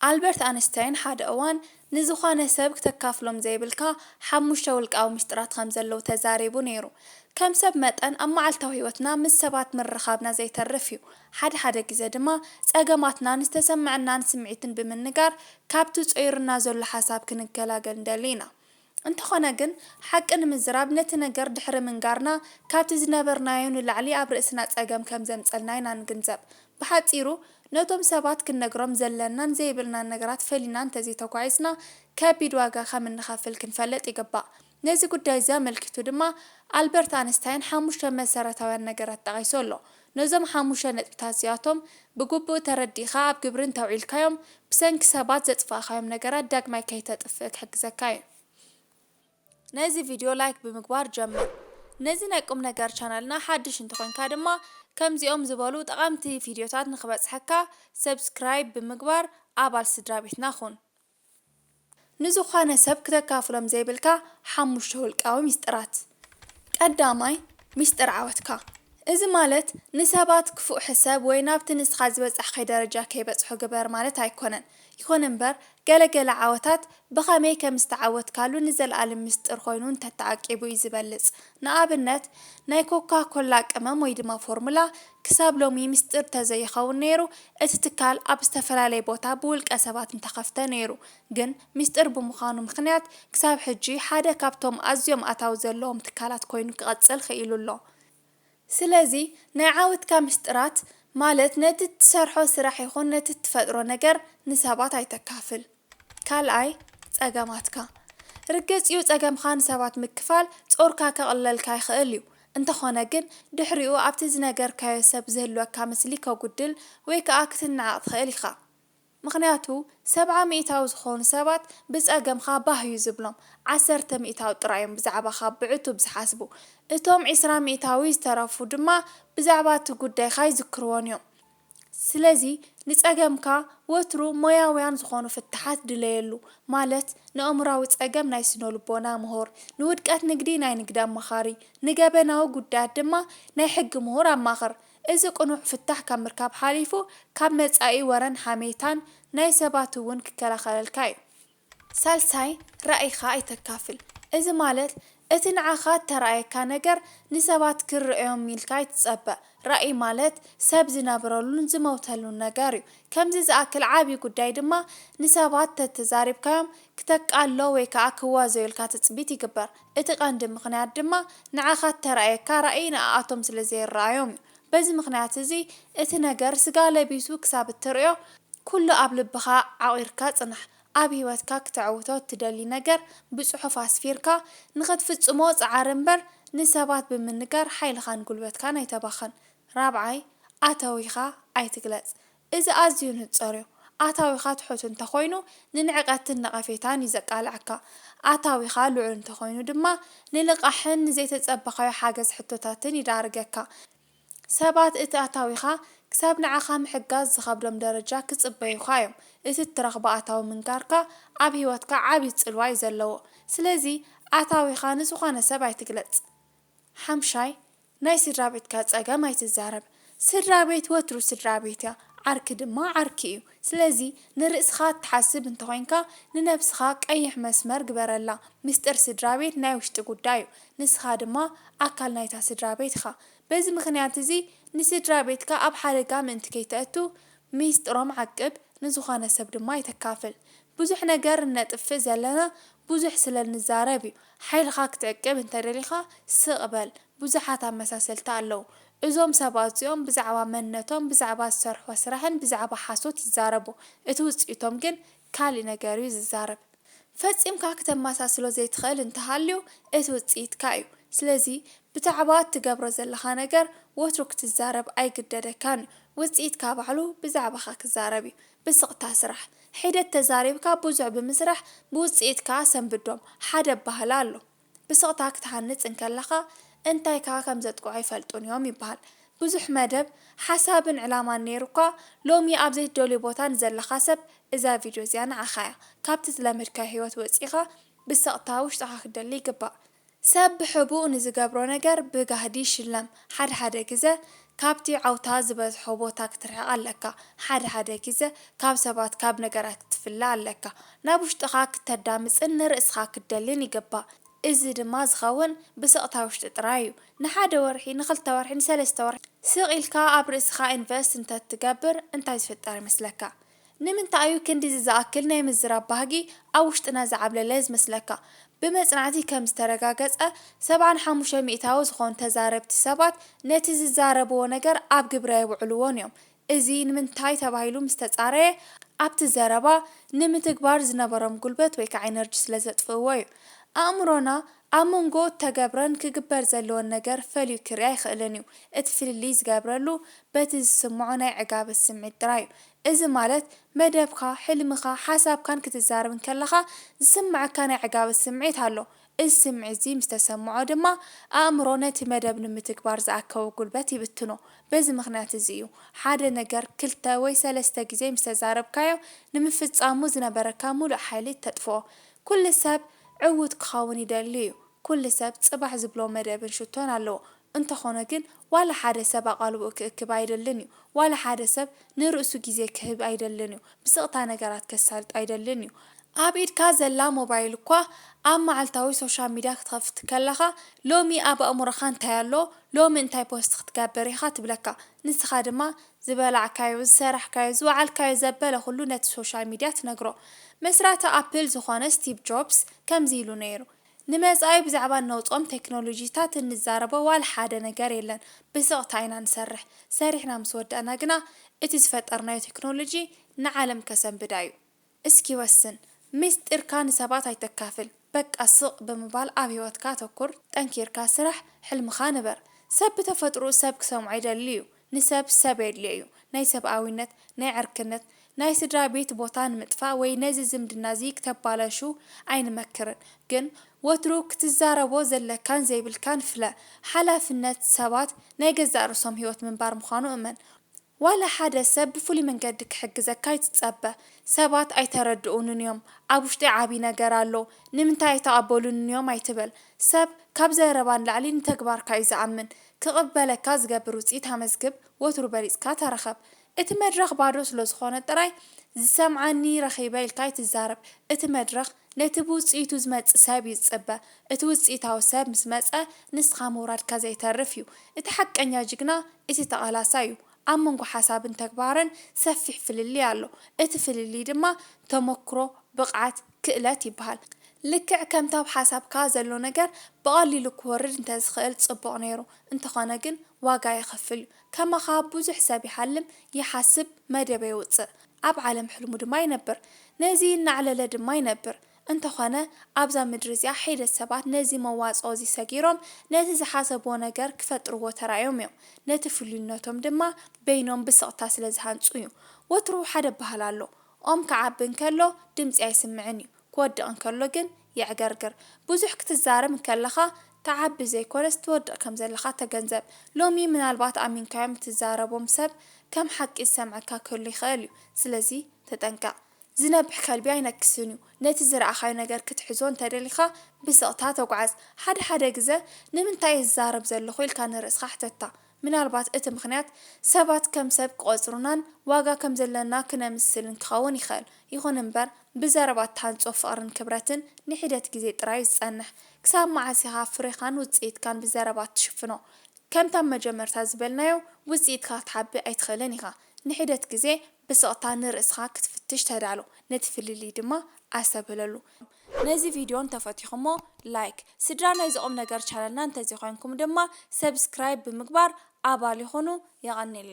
ኣልበርት ኣንስታይን ሓደ እዋን ንዝኾነ ሰብ ክተካፍሎም ዘይብልካ ሓሙሽተ ውልቃዊ ምስጢራት ከም ዘለዉ ተዛሪቡ ነይሩ። ከም ሰብ መጠን ኣብ መዓልታዊ ህይወትና ምስ ሰባት ምርኻብና ዘይተርፍ እዩ። ሓደ ሓደ ግዘ ድማ ፀገማትናን ዝተሰመዐናን ስምዒትን ብምንጋር ካብቲ ፆይሩና ዘሎ ሓሳብ ክንገላገል ንደሊ ኢና። እንተኾነ ግን ሓቂ ንምዝራብ ነቲ ነገር ድሕሪ ምንጋርና ካብቲ ዝነበርናዮ ንላዕሊ ኣብ ርእስና ጸገም ከም ዘምጸልና ኢና ንግንዘብ። ብሓጺሩ ነቶም ሰባት ክንነግሮም ዘለናን ዘይብልናን ነገራት ፈሊና እንተዘይተጓዒዝና ከቢድ ዋጋ ከም እንኸፍል ክንፈልጥ ይግባእ። ነዚ ጉዳይ እዚ ኣመልኪቱ ድማ ኣልበርት ኣንስታይን ሓሙሽተ መሰረታውያን ነገራት ጠቒሱ ኣሎ። ነዞም ሓሙሽተ ነጥብታት እዚኣቶም ብግቡእ ተረዲእኻ ኣብ ግብሪ እንተውዒልካዮም፣ ብሰንኪ ሰባት ዘጥፋእኻዮም ነገራት ዳግማይ ከይተጥፍእ ክሕግዘካ እዩ። ነዚ ቪድዮ ላይክ ብምግባር ጀምር። ነዚ ናይ ቁምነገር ቻነልና ሓድሽ እንተኾይንካ ድማ ከምዚኦም ዝበሉ ጠቓምቲ ቪድዮታት ንኽበጽሐካ ሰብስክራይብ ብምግባር ኣባል ስድራቤትና ኩን። ንዝኾነ ሰብ ክተካፍሎም ዘይብልካ ሓሙሽተ ውልቃዊ ሚስጥራት። ቀዳማይ፣ ሚስጥር ዓወትካ። እዚ ማለት ንሰባት ክፉእ ሕሰብ ወይ ናብቲ ንስኻ ዝበጻሕካዮ ደረጃ ከይበጽሑ ግበር ማለት ኣይኮነን። ይኹን እምበር፣ ገለ ገለ ዓወታት ብኸመይ ከም ዝተዓወትካሉ ንዘልኣልም ሚስጥር ኮይኑ እንተተዓቂቡ እዩ ዝበልጽ። ንኣብነት፣ ናይ ኮካ ኮላ ቅመም ወይ ድማ ፎርሙላ ክሳብ ሎሚ ምስጢር ተዘይኸውን ነይሩ እቲ ትካል ኣብ ዝተፈላለየ ቦታ ብውልቀ ሰባት እንተኸፍተ ነይሩ ግን ምስጢር ብምዃኑ ምኽንያት ክሳብ ሕጂ ሓደ ካብቶም ኣዝዮም ኣታዊ ዘለዎም ትካላት ኮይኑ ክቐፅል ኽኢሉ ኣሎ። ስለዚ ናይ ዓወትካ ምስጢራት ማለት ነቲ እትሰርሖ ስራሕ ይኹን ነቲ እትፈጥሮ ነገር ንሰባት ኣይተካፍል። ካልኣይ ጸገማትካ። ርግጽ'ዩ ጸገምካ ንሰባት ምክፋል ጾርካ ከቕልለልካ ይኽእል'ዩ፣ እንተኾነ ግን ድሕሪኡ ኣብቲ ዝነገርካዮ ሰብ ዝህልወካ ምስሊ ከጉድል ወይ ከኣ ክትነዓቕ ትኽእል ኢኻ። ምኽንያቱ ሰብዓ ሚኢታዊ ዝኾኑ ሰባት ብጸገምካ ባህ'ዩ ዝብሎም፣ ዓሰርተ ሚኢታዊ ጥራይ'ዮም ብዛዕባኻ ብዕቱብ ዝሓስቡ፣ እቶም ዕስራ ሚኢታዊ ዝተረፉ ድማ ብዛዕባ'ቲ ጉዳይካ ይዝክርዎን'ዮም። ስለዚ ንጸገምካ ወትሩ ሞያውያን ዝኾኑ ፍታሓት ድለየሉ፣ ማለት ንኣእምሮኣዊ ጸገም ናይ ስነልቦና ምሁር፣ ንውድቀት ንግዲ ናይ ንግዲ ኣማኻሪ፣ ንገበናዊ ጉዳያት ድማ ናይ ሕጊ ምሁር ኣማኽር። እዚ ቅኑዕ ፍታሕ ካብ ምርካብ ሓሊፉ ካብ መጻኢ ወረን ሓሜታን ናይ ሰባት'ውን ክከላኸለልካ እዩ። ሳልሳይ፣ ራኢኻ ኣይተካፍል። እዚ ማለት እቲ ንዓኻ እተራኣየካ ነገር ንሰባት ክርኣዮም ኢልካ ኣይትጸበ። ራኢ ማለት ሰብ ዝነብረሉን ዝመውተሉን ነገር እዩ። ከምዚ ዝኣክል ዓቢ ጉዳይ ድማ ንሰባት ተተዛሪብካዮም ክተቃልሎ ወይ ከኣ ክዋዘዩልካ ትጽቢት ይግበር። እቲ ቀንዲ ምኽንያት ድማ ንዓኻ እተራኣየካ ራኢ ንኣኣቶም ስለ ዘይረኣዮም እዩ። በዚ ምኽንያት እዚ እቲ ነገር ስጋ ለቢሱ ክሳብ እትርእዮ ኩሉ ኣብ ልብኻ ዓቚርካ ጽናሕ። ኣብ ህይወትካ ክተዕውቶ እትደሊ ነገር ብጽሑፍ ኣስፊርካ ንኽትፍጽሞ ጽዓር እምበር ንሰባት ብምንጋር ሓይልኻን ጉልበትካን ኣይተባኽን። ራብዓይ፣ ኣተዊኻ ኣይትግለጽ። እዚ ኣዝዩ ንጸርዮ። ኣታዊኻ ትሑት እንተኾይኑ ንንዕቀትን ነቐፌታን እዩ ዘቃልዐካ። ኣታዊኻ ልዑል እንተኾይኑ ድማ ንልቓሕን ንዘይተጸበኻዮ ሓገዝ ሕቶታትን ይዳርገካ። ሰባት እቲ ኣታዊኻ ክሳብ ንዓኻ ምሕጋዝ ዝኸብዶም ደረጃ ክጽበዩኻ እዮም። እቲ እትረኽቦ ኣታዊ ምንጋርካ ኣብ ህይወትካ ዓቢ ጽልዋ እዩ ዘለዎ። ስለዚ ኣታዊኻ ንዝኾነ ሰብ ኣይትግለጽ። ሓምሻይ፣ ናይ ስድራቤትካ ጸገም ኣይትዛረብ ስድራቤት ወትሩ ስድራቤት እያ ዓርኪ ድማ ዓርኪ እዩ ስለዚ ንርእስካ እትሓስብ እንተኮይንካ ንነብስካ ቀይሕ መስመር ግበረላ ምስጢር ስድራቤት ናይ ውሽጢ ጉዳይ እዩ ንስካ ድማ ኣካል ናይታ ስድራቤት ኢካ በዚ ምክንያት እዚ ንስድራቤትካ ኣብ ሓደጋ ምእንቲ ከይተእቱ ሚስጥሮም ዓቅብ ንዝኮነ ሰብ ድማ ኣይተካፍል ብዙሕ ነገር እነጥፍእ ዘለና ብዙሕ ስለ እንዛረብ እዩ። ሓይልኻ ክትዕቅብ እንተደሊኻ ስቕ በል። ብዙሓት ኣመሳሰልቲ ኣለዉ። እዞም ሰባት እዚኦም ብዛዕባ መንነቶም፣ ብዛዕባ ዝሰርሕዎ ስራሕን ብዛዕባ ሓሶት ይዛረቡ። እቲ ውጽኢቶም ግን ካልእ ነገር እዩ ዝዛረብ። ፈጺምካ ክተመሳስሎ ዘይትኽእል እንተሃልዩ እቲ ውጽኢትካ እዩ። ስለዚ ብዛዕባ እትገብሮ ዘለኻ ነገር ወትሩ ክትዛረብ ኣይግደደካን እዩ። ውጽኢትካ ባዕሉ ብዛዕባኻ ክዛረብ እዩ። ብስቕታ ስራሕ። ሒደት ተዛሪብካ ብዙሕ ብምስራሕ ብውጽኢት ከኣ ሰንብዶም። ሓደ ኣበሃህላ ኣሎ። ብስቕታ ክትሃንጽ እንከለኻ እንታይ ከኣ ከም ዘጥቅዑ ኣይፈልጡን እዮም ይበሃል። ብዙሕ መደብ፣ ሓሳብን ዕላማን ነይሩካ ሎሚ ኣብ ዘይትደልዮ ቦታ ንዘለኻ ሰብ እዛ ቪድዮ እዚኣ ንዓኻ'ያ። ካብቲ ዝለመድካዮ ህይወት ወጺእኻ ብስቕታ ውሽጥኻ ክትደሊ ይግባእ። ሰብ ብሕቡእ ንዝገብሮ ነገር ብጋህዲ ይሽለም። ሓደ ሓደ ግዘ ካብቲ ዓውታ ዝበዝሖ ቦታ ክትርሕቕ ኣለካ። ሓደ ሓደ ግዘ ካብ ሰባት ካብ ነገራት ክትፍለ ኣለካ። ናብ ውሽጥኻ ክተዳምፅን ንርእስኻ ክትደልን ይግባእ። እዚ ድማ ዝኸውን ብስቕታ ውሽጢ ጥራይ እዩ። ንሓደ ወርሒ፣ ንክልተ ወርሒ፣ ንሰለስተ ወርሒ ስቕ ኢልካ ኣብ ርእስኻ ኢንቨስት እንተትገብር እንታይ ዝፍጠር ይመስለካ? ንምንታይ እዩ ክንድዚ ዝኣክል ናይ ምዝራብ ባህጊ ኣብ ውሽጥና ዝዓብለለ ዝመስለካ? ብመጽናዕቲ ከም ዝተረጋገጸ፣ ሰብዓን ሓሙሽተ ሚእታዊ ዝኾኑ ተዛረብቲ ሰባት ነቲ ዝዛረብዎ ነገር ኣብ ግብሪ ኣየውዕልዎን እዮም። እዚ ንምንታይ ተባሂሉ ምስ ተጻረየ፣ ኣብቲ ዘረባ ንምትግባር ዝነበሮም ጉልበት ወይ ከኣ ኢነርጂ ስለ ዘጥፍእዎ እዩ። ኣእምሮና ኣብ መንጎ እተገብረን ክግበር ዘለዎን ነገር ፈልዩ ክርኢ ኣይክእልን እዩ። እቲ ፍልልይ ዝገብረሉ በቲ ዝስምዖ ናይ ዕጋበት ስምዒት ጥራይ እዩ። እዚ ማለት መደብካ፣ ሕልምኻ፣ ሓሳብካን ክትዛረብ እንከለኻ ዝስመዐካ ናይ ዕጋበት ስምዒት ኣሎ። እዚ ስምዒትዚ ምስ ተሰመዖ ድማ ኣእምሮ ነቲ መደብ ንምትግባር ዝኣከቦ ጉልበት ይብትኖ። በዚ ምኽንያት እዚ እዩ ሓደ ነገር ክልተ ወይ ሰለስተ ግዜ ምስ ተዛረብካዮ ንምፍጻሙ ዝነበረካ ምሉእ ሓይሊ እተጥፍኦ። ኩሉ ሰብ ዕዉት ክኸውን ይደሊ እዩ። ኩሉ ሰብ ጽባሕ ዝብሎ መደብን ሽቶን ኣለዎ። እንተኾነ ግን ዋላ ሓደ ሰብ ኣቓልቦኡ ክእክብ ኣይደልን እዩ። ዋላ ሓደ ሰብ ንርእሱ ግዜ ክህብ ኣይደልን እዩ። ብስቕታ ነገራት ከሳልጥ ኣይደልን እዩ። ኣብ ኢድካ ዘላ ሞባይል እኳ ኣብ መዓልታዊ ሶሻል ሚድያ ክትኸፍት ከለኻ ሎሚ ኣብ ኣእምሮኻ እንታይ ኣሎ፣ ሎሚ እንታይ ፖስት ክትገብር ኢኻ ትብለካ። ንስኻ ድማ ዝበላዕካዮ፣ ዝሰራሕካዮ፣ ዝወዓልካዮ ዘበለ ኩሉ ነቲ ሶሻል ሚድያ ትነግሮ። መስራቲ ኣፕል ዝኾነ ስቲቭ ጆብስ ከምዚ ኢሉ ነይሩ፣ ንመጻኢ ብዛዕባ እነውጽኦም ቴክኖሎጂታት እንዛረቦ ዋላ ሓደ ነገር የለን። ብስቕታ ኢና ንሰርሕ። ሰሪሕና ምስ ወዳእና ግና እቲ ዝፈጠርናዮ ቴክኖሎጂ ንዓለም ከሰንብዳ እዩ። እስኪ ወስን። ምስጢርካ ንሰባት ኣይተካፍል። በቃ ስቕ ብምባል ኣብ ህይወትካ ኣተኩር፣ ጠንኪርካ ስራሕ፣ ሕልምኻ ንበር። ሰብ ብተፈጥርኡ ሰብ ክሰምዖ ይደሊ እዩ። ንሰብ ሰብ የድልዮ እዩ። ናይ ሰብኣዊነት፣ ናይ ዕርክነት፣ ናይ ስድራ ቤት ቦታ ንምጥፋእ ወይ ነዚ ዝምድና እዚ ክተባላሹ ኣይንመክርን። ግን ወትሩ ክትዛረቦ ዘለካን ዘይብልካን ፍለ። ሓላፍነት ሰባት ናይ ገዛእ ርእሶም ህይወት ምንባር ምዃኑ እመን። ዋላ ሓደ ሰብ ብፍሉይ መንገዲ ክሕግዘካ ኣይትጸበ። ሰባት ኣይተረድኡንን እዮም፣ ኣብ ውሽጠይ ዓቢ ነገር ኣሎ፣ ንምንታይ ኣይተቐበሉንን እዮም ኣይትበል። ሰብ ካብ ዘረባ ንላዕሊ ንተግባርካ እዩ ዝኣምን። ክቕበለካ ዝገብር ውጽኢት ኣመዝግብ፣ ወትሩ በሊጽካ ተረኸብ። እቲ መድረኽ ባዶ ስለዝኾነ ጥራይ ዝሰምዓኒ ረኺበ ኢልካ ኣይትዛረብ። እቲ መድረኽ ነቲ ብውጽኢቱ ዝመጽእ ሰብ እዩ ዝጽበ። እቲ ውጽኢታዊ ሰብ ምስ መጸ ንስኻ ምውራድካ ዘይተርፍ እዩ። እቲ ሓቀኛ ጅግና እቲ ተቓላሳይ እዩ። ኣብ መንጎ ሓሳብን ተግባርን ሰፊሕ ፍልልይ ኣሎ። እቲ ፍልልይ ድማ ተሞክሮ፣ ብቕዓት፣ ክእለት ይበሃል። ልክዕ ከምቲ ኣብ ሓሳብካ ዘሎ ነገር ብቐሊሉ ክወርድ እንተዝኽእል ጽቡቕ ነይሩ። እንተኾነ ግን ዋጋ የኽፍል እዩ። ከማኻ ብዙሕ ሰብ ይሓልም፣ ይሓስብ፣ መደበ የውጽእ። ኣብ ዓለም ሕልሙ ድማ ይነብር። ነዚ እናዕለለ ድማ ይነብር። እንተኾነ ኣብዛ ምድሪ እዚኣ ሒደት ሰባት ነዚ መዋጽኦ እዚ ሰጊሮም ነቲ ዝሓሰብዎ ነገር ክፈጥርዎ ተራእዮም እዮም። ነቲ ፍሉይነቶም ድማ በይኖም ብስቕታ ስለዝሃንጹ እዩ። ወትሩ ሓደ ኣበሃህላ ኣሎ። ኦም ክዓቢ እንከሎ ድምጺ ኣይስምዕን እዩ፣ ክወድቕ እንከሎ ግን የዕገርግር። ብዙሕ ክትዛረብ እንከለኻ ትዓቢ ዘይኮነስ ትወድቕ ከም ዘለኻ ተገንዘብ። ሎሚ ምናልባት ኣሚንካዮም እትዛረቦም ሰብ ከም ሓቂ ዝሰምዐካ ክህሉ ይኽእል እዩ። ስለዚ ተጠንቀቕ። ዝነብሕ ከልቢ ኣይነክስን እዩ። ነቲ ዝረኣኻዮ ነገር ክትሕዞ እንተ ደሊኻ ብስቕታ ተጓዓዝ። ሓደ ሓደ ግዘ ንምንታይ እየ ዝዛረብ ዘለኹ ኢልካ ንርእስኻ ሕተታ። ምናልባት እቲ ምኽንያት፣ ሰባት ከም ሰብ ክቖጽሩናን ዋጋ ከም ዘሎና ክነምስልን ክኸውን ይኽእል። ይኹን እምበር፣ ብዘረባ እትሃንጾ ፍቕርን ክብረትን ንሒደት ግዜ ጥራይ'ዩ ዝጸንሕ። ክሳብ መዓስ ኢኻ ፍሬኻን ውጽኢትካን ብዘረባ እትሽፍኖ? ከምቲ ኣብ መጀመርታ ዝበልናዮ፣ ውጽኢትካ ክትሓቢ ኣይትኽእልን ኢኻ። ንሒደት ግዜ ብስቕታ ንርእስኻ ክትፍትሽ ተዳሎ፣ ነቲ ፍልልይ ድማ ኣስተብህለሉ። ነዚ ቪድዮ እንተፈቲኹሞ ላይክ፣ ስድራ ናይዚ ቁምነገር ቻነልና እንተዘይኮይንኩም ድማ ሰብስክራይብ ብምግባር ኣባል ይኹኑ። የቐኔለይ።